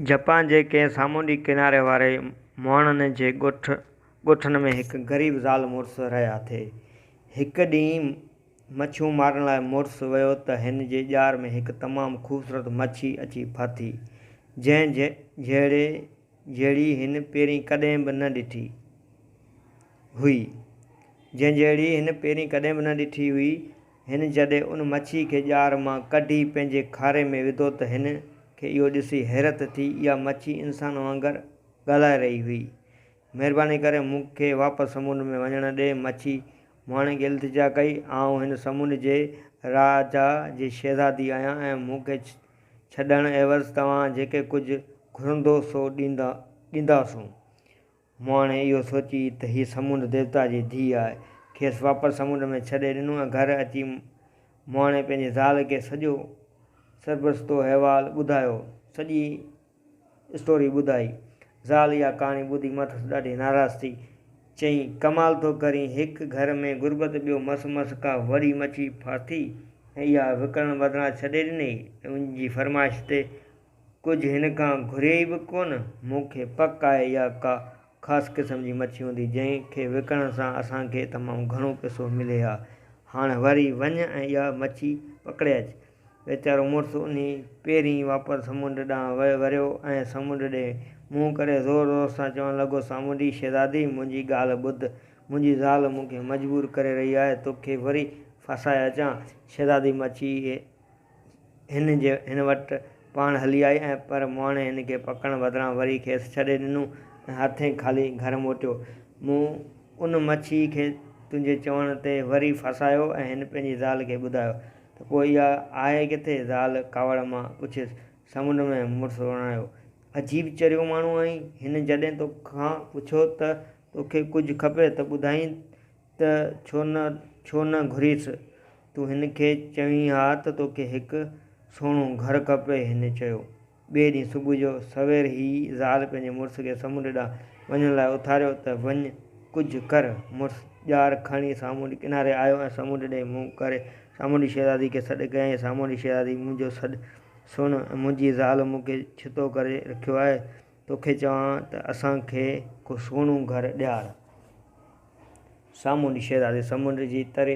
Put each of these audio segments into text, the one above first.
Japan جي ڪنهن سامونڊي ڪناري واري مهڻن جي ڳوٺ ڳوٺن ۾ هڪ غريب زال مڙس رهي آٿي. هڪ ڏينهن مڇيون مارڻ لاء مڙس ويو ته هن جي ڄار ۾ هڪ تمام خوبصورت مڇي اچي ڦاٿي، جنهن جهڙي جهڙي هن پهرين ڪڏهن به نه ڏٺي هئي جنهن جهڙي هن پهرين ڪڏهن به نه ڏٺي هئي هن جڏهن ان مڇي کي ڄار مان ڪڍي پنهنجي کاري ۾ وڌو ته هن کي اهو ڏسي حيرت ٿي اها مڇي انسان وانگر ڳالهائي رهي هئي. مهرباني ڪري مون کي واپس سمنڊ ۾ وڃڻ ڏي مڇي مهاڻي کي التجا ڪئي آئون هن سمنڊ جي راجا جي شهزادي آهيان ۽ مون کي ڇڏڻ عيوض توهان جيڪي ڪجهه گهرندو سو ڏينداسون مون هاڻي اهو سوچي ته هيء سمنڊ ديوتا جي ڌيء آهي، کيس واپس سمنڊ ۾ ڇڏي ڏنو ۽ گهر اچي مون هاڻي پنهنجي زال کي سڄو سرپرستو احوال ٻڌايو، سڄي اسٽوري ٻڌائي. زال اها ڪهاڻي ٻڌي مٿس ڏاڍي ناراض ٿي. چيائين، ڪمال ٿو ڪرين، هڪ گهر ۾ غربت ٻيو مس مس ڪا وڏي مڇي ڦاٿي ۽ اها وڪڻڻ بدران ڇڏي ڏنئي ۽ ان جي فرمائش تي ڪجهه هن کان گهريئي به ڪونه. مون کي پڪ آهي اها ڪا خاص قسم جي مڇي هوندي، جنهن کي وڪڻڻ سان اسان کي تمام گهڻو پئسو ملي ها. هاڻ وري وڃ ۽ اها مڇي پڪڙي اچ. ويچارو مڙس انهي پيرين واپس سمنڊ ڏانهن وريو ۽ سمنڊ ڏي منهن ڪري زور زور سان چوڻ لڳو، سامونڊي شهزادي! منهنجي ڳالهه ٻڌ. منهنجي زال مون کي مجبور ڪري رهي آهي. توکي وري ڦاسائي اچان. شهزادي مڇي هن جي هن وٽ پاڻ هلي آئي ۽ پر مهاڻي هن کي پڪڙڻ بدران وري کيس ڇڏي ڏنو ۽ هٿين خالي گهر موٽيو. مون ان مڇيء کي تنهنجي چوڻ تي وري ڦاسايو ۽ هن پنهنجي زال کي ٻڌايو ته پوء اها آهي ڪٿي؟ زال ڪاوڙ مان پڇيس. سمنڊ ۾، مڙس وراڻيو. عجيب چريو ماڻهو آهين. هن جڏهن تو کان پڇيو ته تو کي ڪجهه کپي ته ٻڌائين ته ڇو نه ڇو نه گهريس، تون هن کي چوين ها ته توکي هڪ سهڻو گهر کپي هن چيو. ٻئي ڏينهن صبح جو سوير هي زال پنهنجي مڙس کي سمنڊ ڏانهن وڃڻ لاء اٿاريو ته وڃ ڪجهه ڪر. مڙس ڄار کڻي سامونڊي ڪناري آيو ۽ سمنڊ ڏي منهن ڪري سامونڊي شهزادي کي سڏ ڪيائين، سامونڊي شهزادي منهنجو سڏ سڻ، منهنجي زال مون کي ڇتو ڪري رکيو آهي، توکي چوان ته اسان کي ڪو سهڻو گهر ڏيار. سامونڊي شهزادي سمنڊ جي تري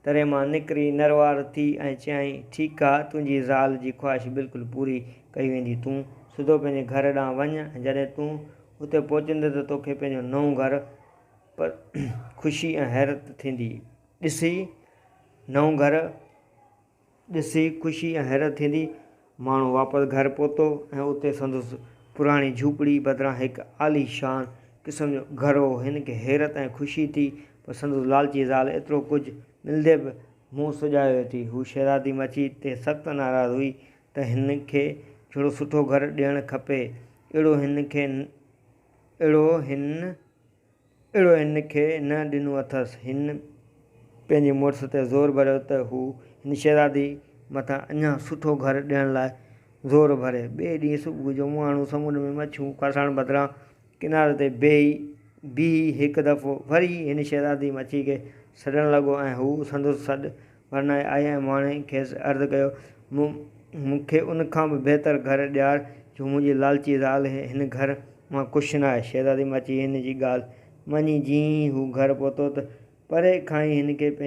تري مان نڪري نروار ٿي ۽ چيائين، ٺيڪ آ، تنهنجي زال جي خواهش بلڪل پوري ڪئي ويندي. تون سڌو پنهنجي گهر ڏانهن وڃ ۽ جڏهن تون اتي پهچندين ته توکي پنهنجو نئون گهر پر خوشي ۽ حيرت ٿيندي ڏسي نئون گهر. ڏسي خوشي ۽ حيرت ٿيندي. ماڻهو واپس گهر پهتو ۽ اتي سندس پراڻي جهوپڙي بدران هڪ عاليشان قسم جو گهر هو. هن کي حيرت ۽ خوشي ٿي پر سندس لالچي زال ايترو ڪجهه ملندي به منهن سجايو ٿي. هوء شهزادي مچي تي سخت ناراض هئي ته هن کي جھڙو سٺو گهر ڏيڻ کپي اهڙو هن کي اهڙو هن. اهڙو هن کي نه ڏنو اٿس. هن پنهنجي مڙس تي زور ڀريو ته هو هن شهزادي مٿان اڃا سٺو گهر ڏيڻ لاء زور ڀري. ٻئي ڏينهن صبح جو مهاڻو سمنڊ ۾ مڇيون ڦاسائڻ بدران ڪناري تي بيهي بيهي هڪ دفعو وري هن شهزادي مڇي کي سڏڻ لڳو ۽ هو سندس سڏ ورنائي آئي ۽ ماڻهي کيس عرض ڪيو، مون مون کي ان کان به بهتر گهر ڏيار، جو منهنجي لالچي زال هي، هن گهر مان ڪش نه آهي. شهزادي ماچي هن جي ڳالهه مڃي جيئن ئي هو گهر پهتو ته پري کان ئي هن کي پنهنجي.